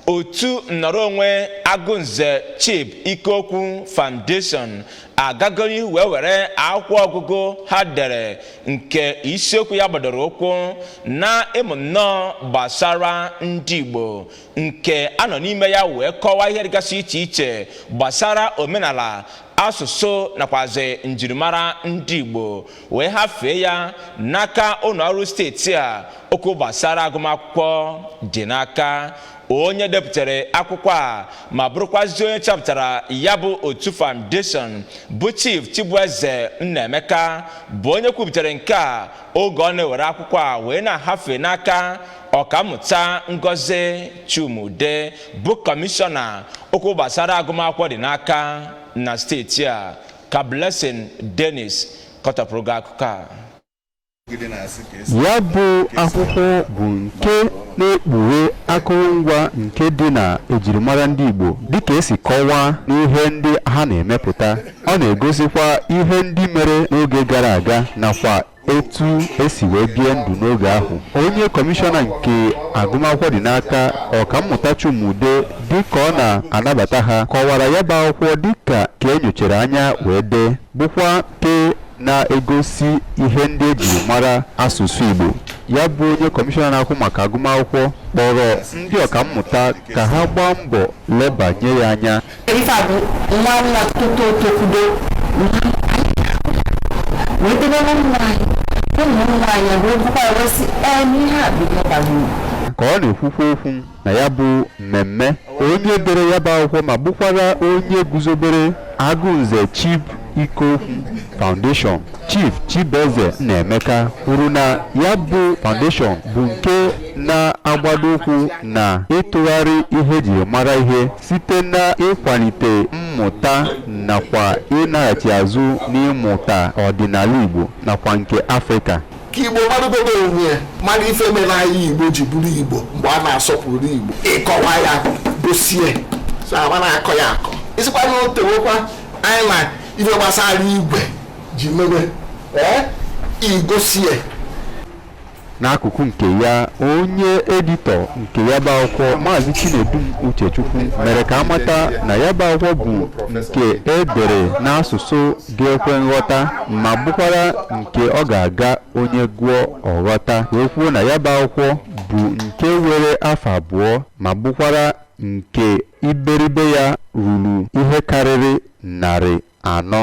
otu nnọrọ onwe agụnze chib ikokwu foundation agago n'ihu wee were akwụkwọ ọgụgụ ha dere nke isiokwu ya gbadoro ụkwụ na ịmụ nnọọ gbasara ndị igbo nke a nọ n'ime ya wee kọwaa ihe dịgasị iche iche gbasara omenala asụsụ nakwazi njirimara ndị igbo wee hafee ya n'aka ụlọ ọrụ steeti a okwu gbasara agụmakwụkwọ dị n'aka onye depụtara akwụkwọ a ma bụrụkwazi onye chọpụtara ya bụ otu foundation bụ chief chibueze nnaemeka bụ onye kwupụtara nke a oge ọ na-ewere akwụkwọ a wee na-ahafe n'aka ọkammụta ngozi chuma-udeh bụ kọmishọna okwu gbasara agụmakwụkwọ dị n'aka na steeti a ka Blessing Dennis kọtapụrụ gị akụkọ a ya bụ akwụkwọ bụ nke na-ekpughe akụrụngwa nke dị na ejirimara ndị Igbo dịka e si kọwaa n'ihe ndị ha na-emepụta ọ na-egosikwa ihe ndị mere n'oge gara aga nakwa etu e si wee bie ndụ n'oge ahụ onye kọmishọna nke agụmakwụkwọ dị n'aka ọkammụta Chuma-Udeh dịka ọ na-anabata ha kọwara ya bụ akwụkwọ dịka nke e nyochara anya wee dee bụkwa nke na-egosi ihe ndị e jiri mara asụsụ Igbo ya bụ onye kọmishọna na-ahụ maka agụmakwụkwọ kpọrọ ndị ọkammụta ka ha gbaa mbọ lebanye ya anya Ife a bụ nwa nwa toto tokudo wee debe na nwa anyị ụmụ nwa anyị wee bụkwa wee sị ee n'ihe a bụ ihe bara uru ka ọ na-ekwukwa okwu na ya bụ mmemme onye dere ya bụ akwụkwọ ma bụkwara onye guzobere agụnze chib ikokwu foundation chief chibueze nnaemeka kwuru na ya bụ foundation bụ nke na-agbado ụkwụ na ịtụgharị ihe e jiri mara ihe Site n'ịkwalite mmụta nakwa ịnaghachi azụ n'ịmụta ọdịnala Igbo nakwa nke Afrịka. Ka Igbo marụgodo onwe ya, mara ife mere anyị Igbo ji bụrụ Igbo mgbe a na-asọpụrụ Igbo. Ịkọwa ya gosie so ama na-akọ ya akọ isikwa na otewekwa anyị na ife gbasara igwe ji mere ee igosie N'akụkụ nke ya, onye editọ nke ya bụ akwụkwọ Maazị Chinedum Uchechukwu mere ka a mata na ya bụ akwụkwọ bụ nke e dere n'asụsụ ga-ekwe nghọta ma bụkwara nke ọ ga-aga onye gụọ ọ ghọta wee kwuo na ya bụ akwụkwọ bụ nke were afọ abụọ ma bụkwara nke iberibe ya ruru ihe karịrị narị anọ